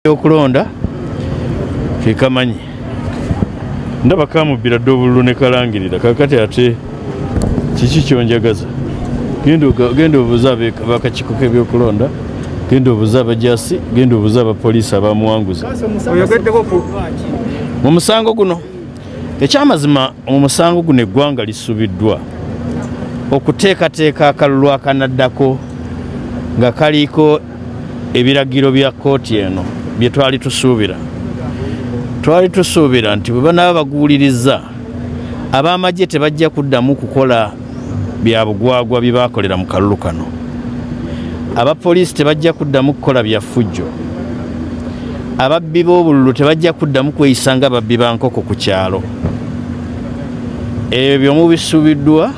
okulonda kekamanyi ndaba kamubbira dde obululu ne kalangirira kakati ate kiki kyonjagaza genda obuuza bakakiko kebyokulonda genda obuuza abajasi genda obuuza abapoliisi abamuwanguza mu musango guno ekyamazima mu musango guno eggwanga lisubiddwa okuteekateeka akalulu akanaddako nga kaliiko ebiragiro bya kkooti eno bye twali tusuubira twali tusuubira nti bwe banaaba baguwuliriza ab'amagye tebajja kuddamu kukola bya bugwagwa bye baakolera mu kalulu kano abapoliisi tebajja kuddamu kukola bya ffujjo ababbi b'obululu tebajja kuddamu kweyisa nga babbi ba nkoko ku kyalo ebyo mubisuubiddwa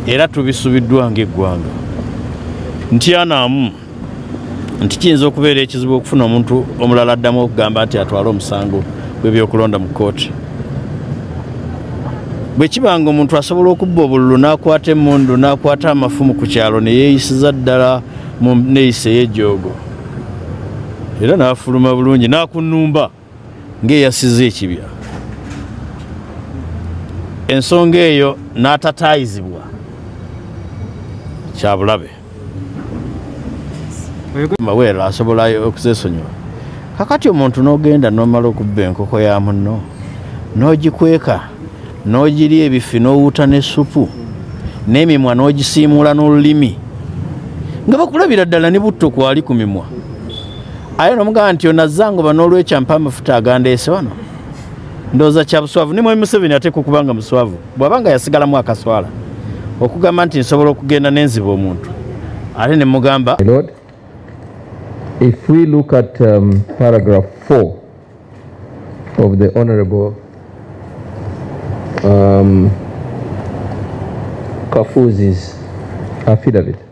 era tubisubiddwa ng'eggwanga ntyanaamu nti kiyinza okubeera ekizibu okufuna omuntu omulala addamu okugamba nti atwale omusango gw'ebyokulonda mu kkooti bwe kiba nga omuntu asobola okubba obululu n'akwata emmundu n'akwata amafumu ku kyalo ne yeeyisiza ddala mu nneeyisa ey'ejoogo era n'afuluma bulungi n'akunnumba ng'eyasiza ekibya ensonga eyo n'atataayizibwa kyabulabe maweero asobola okuzesonyiwa kakati omuntu n'ogenda n'omala okubba enkoko ya munno n'ogikweka n'ogiri ebifi n'owuuta n'essupu n'emimwa n'ogisiimuula n'olulimi nga bakulabira ddala ne butto kwali ku mimwa aye nomugamba nti onazangoba nolwekyo ampa amafuta agandeese wano ndowooza kya buswavu nimwe museveni ateeka okuba nga muswavu bwaba nga yasigalamu akaswala okugamba nti nsobola okugenda nenziba omuntu ate ne mugamba If we look at um, paragraph 4 of the Honorable um, Kafuzi's affidavit,